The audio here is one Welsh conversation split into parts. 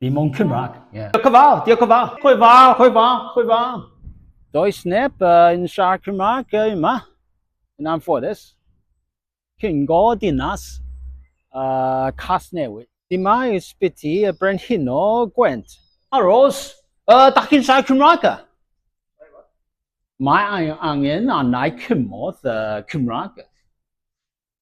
Dim ond Cymraeg. Yeah. Diolch yn fawr, diolch yn fawr. Chwe fawr, chwe fawr, chwe fawr. Does neb uh, yn siarad Cymraeg uh, yma, yn anffodus. Cyngo dinas uh, Casnewydd. Dyma ysbyty y Brenhino Gwent. Aros, uh, da chi'n siarad Cymraeg? Mae angen anau cymod uh, Cymraeg.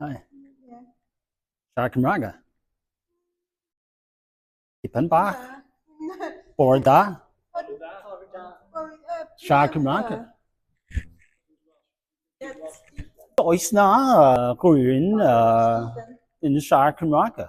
Hi. Yeah. Siarad Cymraeg e? Tipyn bach. Bore da. Siarad Cymraeg e? Does na rhywun uh, yn siarad Cymraeg e?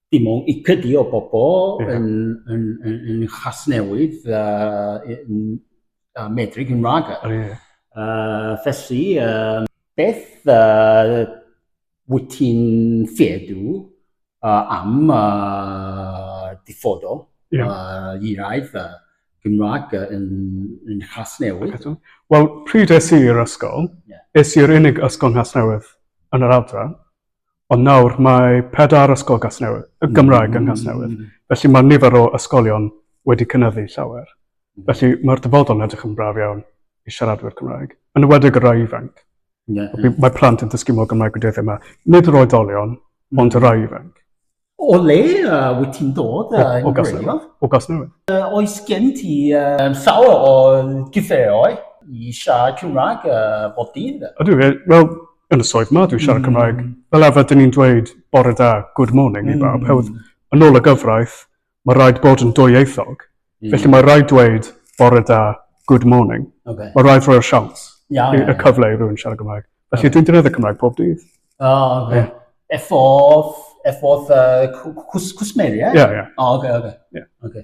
dim ond ychydig o bobl yn, yn, yn, yn Chasnewydd uh, yn, uh, medru Cymraeg. Oh, yeah. uh, felly, uh, beth uh, wyt ti'n ffedu uh, am uh, diffodol yeah. uh, i raidd uh, Gymraeg yn, yn Chasnewydd? Wel, pryd es i'r ysgol, yeah. es i'r unig ysgol Chasnewydd yn yr adran, Ond nawr mae pedair ysgol Gasnewydd, y mm. Gymraeg yn Gasnewydd. Mm. Felly mae nifer o ysgolion wedi cynyddu llawer. Mm. Felly mae'r dyfodol yn edrych yn braf iawn i siaradwyr Cymraeg, yn ywedig y rai ifanc. Yeah, yeah. Mae plant yn dysgu mor Gymraeg wedi yma. Nid yr oedolion, ond y rai ifanc. O le uh, wyt ti'n dod? Uh, o, o Gasnewydd. O Gasnewydd. Uh, oes gen ti uh, llawer o gyfeiroi i siarad Cymraeg uh, bod dydd? Ydw, wel, yn y swydd ma, dwi'n siarad mm. Cymraeg. Fel arfer, dyn ni'n dweud bore da, good morning mm. i bawb. Hewdd, yn ôl y gyfraith, mae rhaid bod yn dwyieithog. Mm. Felly mae rhaid dweud bore da, good morning. Okay. Mae rhaid rhoi'r siawns, yeah, yeah, yeah. y cyfle i rhywun siarad Cymraeg. Felly okay. dwi'n dynedd y Cymraeg pob dydd. Oh, okay. Yeah. Efforth, efforth uh, cwsmeri, ie? Ie, ie. Oh, okay, okay. Yeah. okay.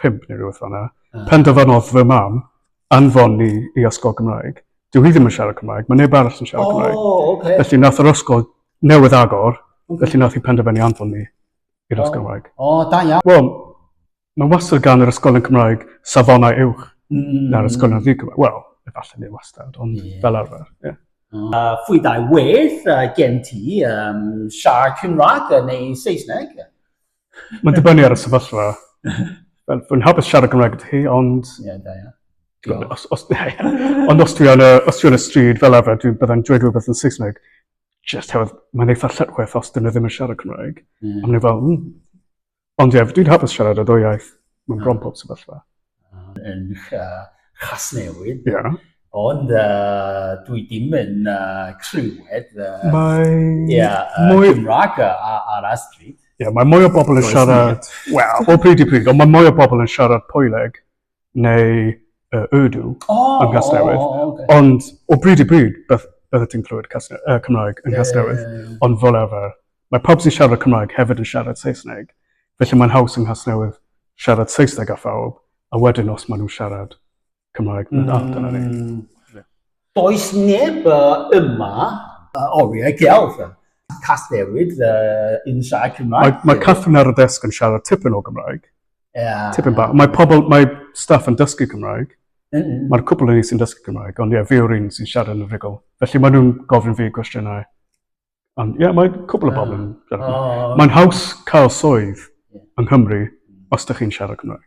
pump neu rhywbeth fanna, uh. penderfynodd fy mam anfon ni i ysgol Gymraeg. Dyw hi ddim yn siarad Cymraeg, mae neb arall yn siarad oh, Cymraeg. Okay. Felly nath yr ysgol newydd agor, okay. felly nath hi penderfynu anfon ni i'r ysgol Gymraeg. O, oh, da iawn. Wel, mae wastad gan yr ysgol yn Cymraeg safonau uwch mm. na'r ysgol yn Cymraeg. Wel, efallai neu wastad, ond yeah. fel arfer. Yeah. Uh, ah, fwy dau wedd uh, gen ti um, siarad Cymraeg neu Saesneg? Mae'n dibynnu ar y sefyllfa. Fel, fi'n hapus siarad Cymraeg gyda chi, ond... Ie, da iawn. Diolch. Os, os, ond os dwi yn y, os dwi yn y stryd fel arfer, dwi byddai'n dweud rhywbeth yn Saesneg. Just hefyd, mae'n eitha lletchwith os dyn nhw ddim yn siarad Cymraeg. Mm. A maen nhw fel, mm. Ond ie, dwi'n hapus siarad y ddwy iaith. Mae'n bron pob sefyllfa. yn Casnewydd. Ia. Ond uh, dwi dim yn uh, clywed... Uh, mae... Ia, yeah, uh, mwy... Cymraeg ar y stryd. Ia, yeah, mae mwy o bobl yn siarad... Wel, o pryd i pryd, ond mae mwy o bobl yn siarad Poeleg neu uh, Urdu oh, yn Casnewydd. Oh, oh, okay. Ond o bryd i bryd, beth, beth ti'n clywed Casne, uh, Cymraeg yn yeah, Casnewydd, yeah, yeah, yeah. ond fel arfer, Mae pawb sy'n siarad Cymraeg hefyd yn siarad Saesneg, felly mae'n haws yng Nghasnewydd siarad Saesneg â phawb, a wedyn os maen nhw'n siarad Cymraeg, mm. na, dyna ni. Mm. Does neb yma uh, oriau gelf. Casnewid uh, yn siarad Cymraeg. Mae, mae Catherine ar y desg yn siarad tipyn o Gymraeg. Yeah. Tipyn ba. Mae pobl, mae staff yn dysgu Cymraeg. Mm -hmm. Mae'r cwpl yn ni sy'n dysgu Cymraeg, ond ie, yeah, fi o'r un sy'n siarad yn y rigol. Felly maen nhw'n gofyn fi gwestiynau Ond ie, mae cwbl o bobl yn siarad Cymraeg. Mae'n haws cael swydd yng Nghymru os dych chi'n siarad Cymraeg.